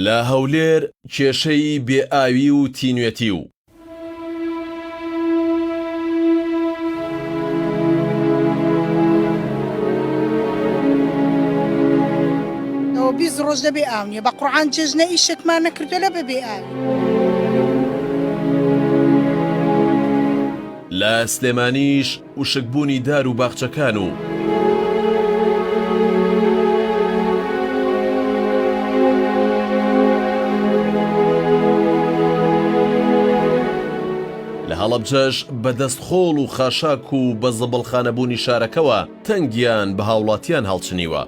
لە هەولێر کێشەی بێ ئاوی و تینوێتی و. بیست ڕۆژ لە بێ ئاو نیە بە قڕان جێژنە ئیشێکمان نەکردو لە بە بێ ئاوی. لە سلێمانیش وشک بوونی دار و باخچەکان و. لە هەڵەبجەش بە دەست خۆڵ و خاشاک و بە زبڵخانە بوونی شارەکەوە تەنگیان بە هاوڵاتیان هەڵچنیوە.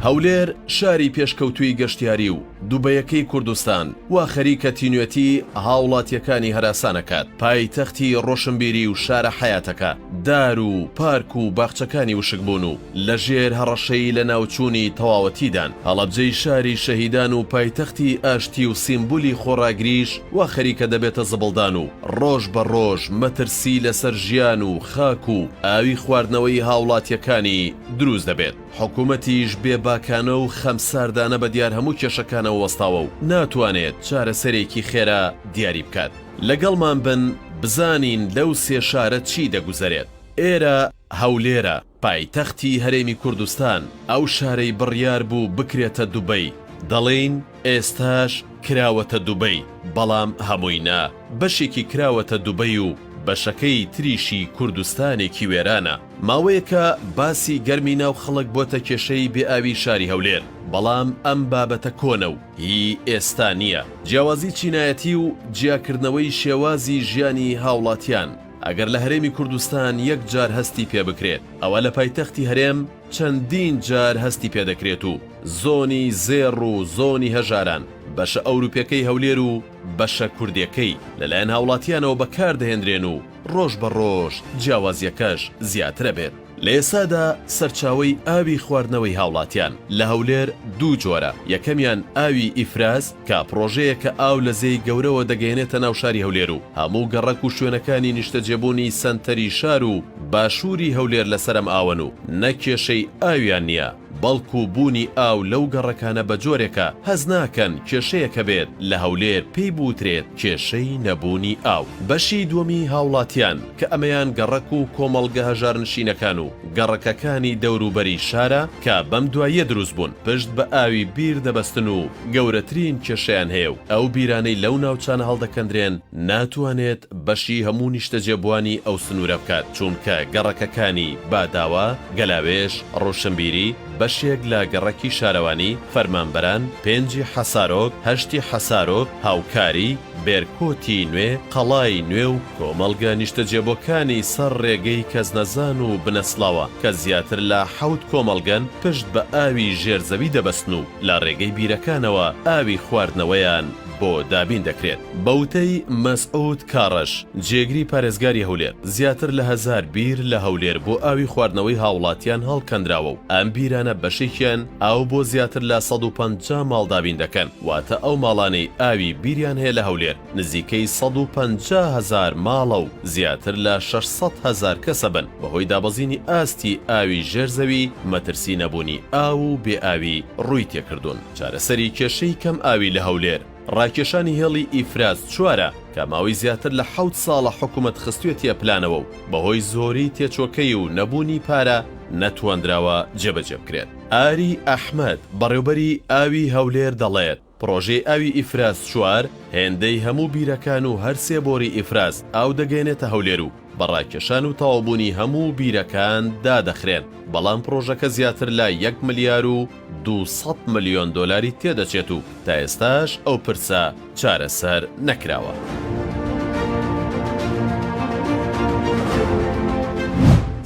هەولێر شاری پێشکەوتووی گەشتیاری و دوبەیەکەی کوردستان وا خەریکە تینوێتی هاوڵاتیەکانی هەراسانەکات پایتەختی ڕۆشنبیری و شارە حەیاتەکە دار و پارک و باخچەکانی وشکبوون و لە ژێر هەڕەشەی لە ناوچوونی تەواوەتیدان هەڵەبجەی شاری شەهیدان و پایتەختی ئاشتی و سیمبولی خۆڕاگریش وا خەریکە دەبێتە زبڵدان و ڕۆژ بە ڕۆژ مەترسی لەسەر ژیان و خاک و ئاوی خواردنەوەی هاوڵاتیەکانی دروست دەبێت، حکومەتیش بێ باکانە و خەمساردانە بەدیار هەموو کێشەکانەوە وەستاوە و ناتوانێت چارەسەرێکی خێرا دیاری بکات. لەگەڵمان بن بزانین لەو سێ شارە چی دەگوزەرێت. ئێرە، هەولێرە، پایتەختی هەرێمی کوردستان، ئەو شارەی بڕیار بوو بکرێتە دوبەی، دەڵێین، ئێستاش کراوەتە دوبەی بەڵام هەمووی نا بەشێکی کراوەتە دوبەی و بەشەکەی تریشی کوردستانێکی وێرانە ماوەیەکە باسی گەرمی ناو خەڵک بۆتە کێشەی بێ ئاوی شاری هەولێر بەڵام ئەم بابەتە کۆنە و هی ئێستا نیە جیاوازی چینایەتی و جیاکردنەوەی شێوازی ژیانی هاوڵاتیان ئەگەر لە هەرێمی کوردستان یەک جار هەستی پێ بکرێت ئەوە لە پایتەختی هەرێم چەندین جار هەستی پێ دەکرێت و زۆنی زێڕ و زۆنی هەژاران، بەشە ئەوروپیەکەی هەولێر و بەشە کوردێکەی، لەلایەن هاوڵاتیانەوە بەکار دەهێنرێن و ڕۆژ بە ڕۆژ جیاوازیەکەش زیاتر ئەبێت. لە ئێستادا سەرچاوەی ئاوی خواردنەوەی هاوڵاتیان لە هەولێر دوو جۆرە، یەکەمیان ئاوی ئیفراز، کە پڕۆژەیەکە ئاو لە زێی گەورەوە دەگەیەنێتە ناو شاری هەولێر و هەموو گەڕەک و شوێنەکانی نیشتەجێبوونی سەنتەری شار و باشووری هەولێر لەسەر ئەم ئاوەن و نەک کێشەی ئاویان نییە بەڵکو بوونی ئاو لەو گەڕەکانە بە جۆرێکە هەست ناکەن کێشەیەک هەبێت لە هەولێر پێی بوترێت کێشەی نەبوونی ئاو. بەشی دووەمی هاوڵاتیان کە ئەمەیان گەڕەک و کۆمەڵگە هەژارنشینەکان و گەڕەکەکانی دەوروبەری شارە، کە بەم دواییە دروست بوون پشت بە ئاوی بیر دەبەستن و گەورەترین کێشەیان هەیە و ئەو بیرانەی لەو ناوچانە هەڵدەکەندرێن ناتوانێت بەشی هەموو نیشتەجێبووانی ئەو سنوورە بکات چوونکە گەڕەکەکانی، باداوا، گەلاوێژ، ڕۆشنبیری، بەشێک لە گەڕەکی شارەوانی، فەرمانبەران، پێنجی حەسارۆک، هەشتی حەسارۆک، هاوکاری، بێرکۆتی نوێ، قەڵای نوێ و. کۆمەڵگە نیشتەجێبوەکانی سەر ڕێگەی کەسنەزان و بنەسڵاوە کە زیاتر لە حەوت کۆمەڵگەن پشت بە ئاوی ژێر زەوی دەبەستن و لە ڕێگەی بیرەکانەوە ئاوی خواردنەوەیان بۆ دابین دەکرێت. بە وتەی مەسعود کاڕەش، جێگری پارێزگاری هەولێر، زیاتر لە هەزار بیر لە هەولێر بۆ ئاوی خواردنەوەی هاوڵاتیان هەڵکەندراوە و ئەم بیرانە بەشێکیان ئاو بۆ زیاتر لە سەد و پەنجا ماڵ دابین دەکەن، واتە ئەو ماڵانەی ئاوی بیریان هەیە لە هەولێر، نزیکەی سەد و پەنجا هەزار ماڵە و زیاتر لە شەش سەد هەزار کەسە بن، بەهۆی دابەزینی ئاستی ئاوی ژێر زەوی مەترسی نەبوونی ئاو و بێ ئاوی ڕووی تێکردوون. چارەسەری کێشەی کەم ئاوی لە هەولێر، ڕاکێشانی هێڵی ئیفراز چوارە کە ماوەی زیاتر لە حەوت ساڵە حکومەت خستوێتیە پلانەوە و بەهۆی زۆری تێچۆکەی و نەبوونی پارە نەتواندراوە جێبەجێ بکرێت. ئاری ئەحمەد، بەڕێوبەری ئاوی هەولێر دەڵێت، پڕۆژەی ئاوی ئیفراز چوار هێندەی هەموو بیرەکان و هەر سێ بۆری ئیفراز ئاو دەگەیەنێتە هەولێر و بە ڕاکێشان و تەواوبوونی هەموو بیرەکان دادەخرێن، بەڵام پڕۆژەکە زیاتر لە یەک ملیار و دوو سەد ملیۆن دۆلاری تێدەچێت و تا ئێستاش ئەو پرسە چارەسەر نەکراوە.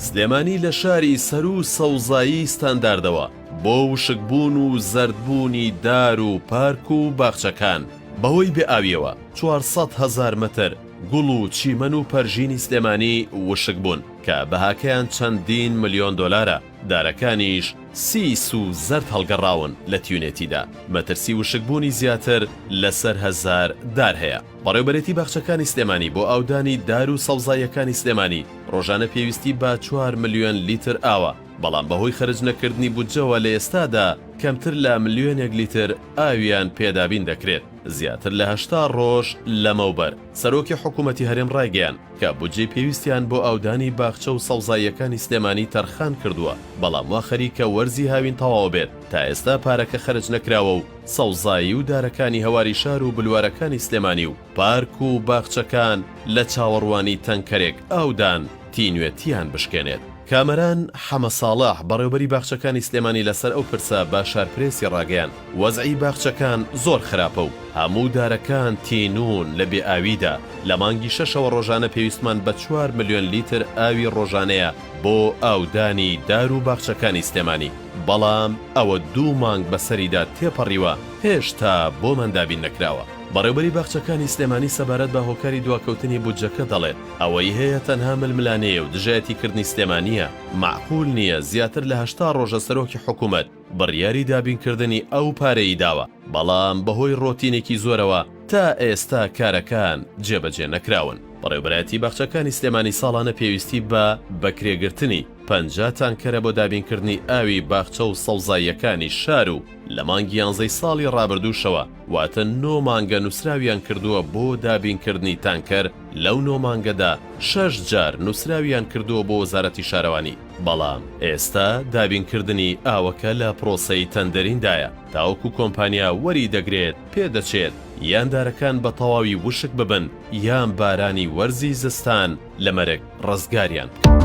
سلێمانی لە شاری سەروو سەوزایی ستانداردەوە بۆ وشک بوون و زەرد بوونی دار و پارک و باخچەکان بەهۆی بێ ئاویەوە چوار سەد هەزار مەتر گوڵ و چیمەن و پەرژینی سلێمانی وشک بوون کە بەهاکەیان چەندین ملیۆن دۆلارە دارەکانیش سیس و زەرد هەڵگەڕاون لە تیونێتیدا مەترسی وشک بوونی زیاتر لە سەر هەزار دار هەیە بەڕێوبەرێتی باخچەکانی سلێمانی بۆ ئاودانی دار و سەوزاییەکانی سلێمانی ڕۆژانە پێویستی بە چوار ملیۆن لیتر ئاوە بەڵام بەهۆی خەرج نەکردنی بودجەوە لە ئێستادا کەمتر لە ملیۆنێک لیتر ئاویان پێ دابین دەکرێت. زیاتر لە هەشتا ڕۆژ لەمەوبەر سەرۆکی حکوومەتی هەرێم ڕایگەیاند کە بودجەی پێویستیان بۆ ئاودانی باخچە و سەوزاییەکانی سلێمانی تەرخان کردووە، بەڵام وا خەریکە وەرزی هاوین تەواو بێت تا ئێستا پارەکە خەرج نەکراوە و سەوزایی و دارەکانی هەواری شار و بلوارەکانی سلێمانی و پارک و باخچەکان لە چاوەڕوانی تەنکەرێک ئاودان تینوێتیان بشکێنێت. کامەران حەمە ساڵح، بەڕێوبەری باخچەکانی سلێمانی لەسەر ئەو پرسە بە شارپرێسی ڕاگەیاند، وەزعی باخچەکان زۆر خراپە و هەموو دارەکان تینوون لە بێ ئاویدا، لە مانگی شەشەوە ڕۆژانە پێویستمان بە چوار ملیۆن لیتر ئاوی ڕۆژانەیە بۆ ئاودانی دار و باخچەکانی سلێمانی، بەڵام ئەوە دوو مانگ بەسەریدا تێپەڕیوە هێشتا بۆمان دابین نەکراوە. بەڕێوبەری باخچەکانی سلێمانی سەبارەت بە هۆکاری دواکەوتنی بودجەکە دەڵێت، ئەوەی هەیە تەنها ململانێیە و دژایەتی کردنی سلێمانییە، مەعقول نییە زیاتر لە هەشتا ڕۆژە سەرۆکی حکومەت بڕیاری دابینکردنی ئەو پارەی داوە، بەڵام بەهۆی ڕۆتینێکی زۆرەوە تا ئێستا کارەکان جێبەجێ نەکراون. بەڕێوبەرایەتی باخچەکانی سلێمانی ساڵانە پێویستی بە بەکرێگرتنی پەنجا تانکەرە بۆ دابینکردنی ئاوی باخچە و سەوزاییەکانی شار و لە مانگی یانزەی ساڵی ڕابردووشەوە، واتە نۆ مانگە نووسراویان کردووە بۆ دابینکردنی تانکەر، لەو نۆ مانگەدا شەش جار نووسراویان کردووە بۆ وەزارەتی شارەوانی، بەڵام ئێستا دابینکردنی ئاوەکە لە پرۆسەی تەندەریندایە، تاوەکو کۆمپانیا وەری دەگرێت پێدەچێت یان دارەکان بە تەواوی وشک ببن یان بارانی وەرزی زستان، لە مەرگ ڕزگاریان بکەن.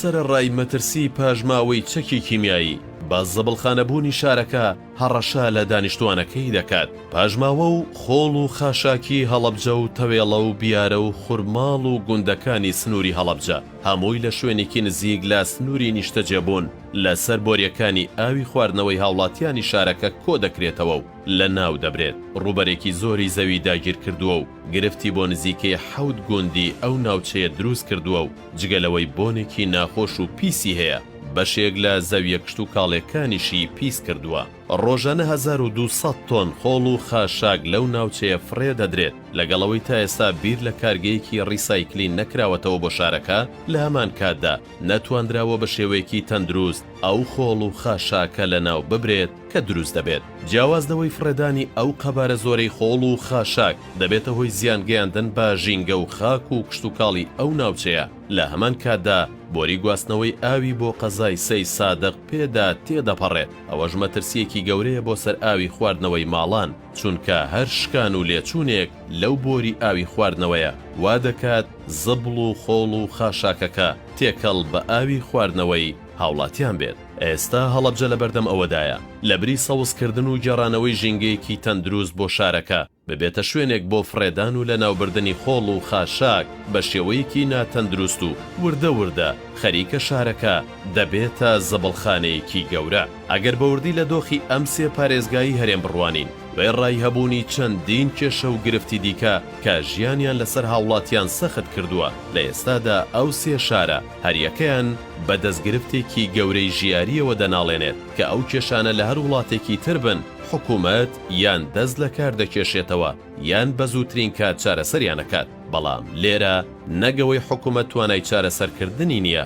سەرەڕای مەترسی پاشماوەی چەکی کیمیایی، بە زبڵخانەبوونی شارەکە هەڕەشە لە دانیشتووانەکەی دەکات، پاشماوە و خۆڵ و خاشاکی هەڵەبجە و تەوێڵە و بیارە و خورماڵ و گوندەکانی سنووری هەڵەبجە، هەمووی لە شوێنێکی نزیک لە سنووری نیشتەجێبوون لەسەر بۆریەکانی ئاوی خواردنەوەی هاوڵاتیانی شارەکە کۆدەکرێتەوە و لەناودەبرێت، ڕووبەرێکی زۆری زەوی داگیرکردووە و گرفتی بۆ نزیکەی حەوت گوندی ئەو ناوچەیە دروستکردووە و جگە لەوەی بۆنێکی ناخۆش و پیسی هەیە، بەشێک لە زەویە کشتوکاڵیەکانیشی پیسکردووە. ڕۆژانە هەزار و دوو سەد تۆن خۆڵ و خاشاک لەو ناوچەیە فڕێدەدرێت، لەگەڵ ئەوەی تا ئێستا بیر لە کارگەیەکی ڕیسایکلین نەکراوەتەوە بۆ شارەکە، لە هەمان کاتدا نەتواندراوە بە شێوەیەکی تەندروست ئەو خۆڵ و خاشاکە لەناو ببرێت کە دروست دەبێت. جیاواز لەوەی فڕێدانی ئەو قەبارە زۆرەی خۆڵ و خاشاک دەبێتە هۆی زیان گەیاندن بە ژینگە و خاک و کشتوکاڵی ئەو ناوچەیە، لە هەمان کاتدا بۆری گواستنەوەی ئاوی بۆ قەزای سەی سادق پێدا تێدەپەڕێت، ئەوەش مەترسییەکی گەورەیە بۆ سەر ئاوی خواردنەوەی ماڵان. چونکە هەر شکان و لێچوونێک لەو بۆری ئاوی خواردنەوەیە وا دەکات زبڵ و خۆڵ و خاشاکەکە تێکەڵ بە ئاوی خواردنەوەی هاوڵاتیان بێت. ئێستا هەڵەبجە لەبەردەم ئەوەدایە لەبری سەوزکردن و گێڕانەوەی ژینگەیەکی تەندروست بۆ شارەکە، ببێتە شوێنێک بۆ فڕێدان و لەناوبردنی خۆڵ و خاشاک بە شێوەیەکی ناتەندروست و وردە وردە خەریکە شارەکە دەبێتە زبڵخانەیەکی گەورە. ئەگەر بە وردی لە دۆخی ئەم سێ پارێزگای هەرێم بڕوانین، وێڕای هەبوونی چەندین کێشە و گرفتی دیکە کە ژیانیان لەسەر هاوڵاتیان سەخت کردووە، لە ئێستادا ئەو سێ شارە هەریەکەیان بە دەستگرفتێکی گەورەی ژیارییەوە دەناڵێنێت، کە ئەو کێشانە لە هەر وڵاتێکی تر بن، حکومەت یان دەست لە کار دەکێشێتەوە یان بە زووترین کات چارەسەریان ئەکات، بەڵام لێرە نەگەوەی حکومەت توانای چارەسەرکردنی نییە.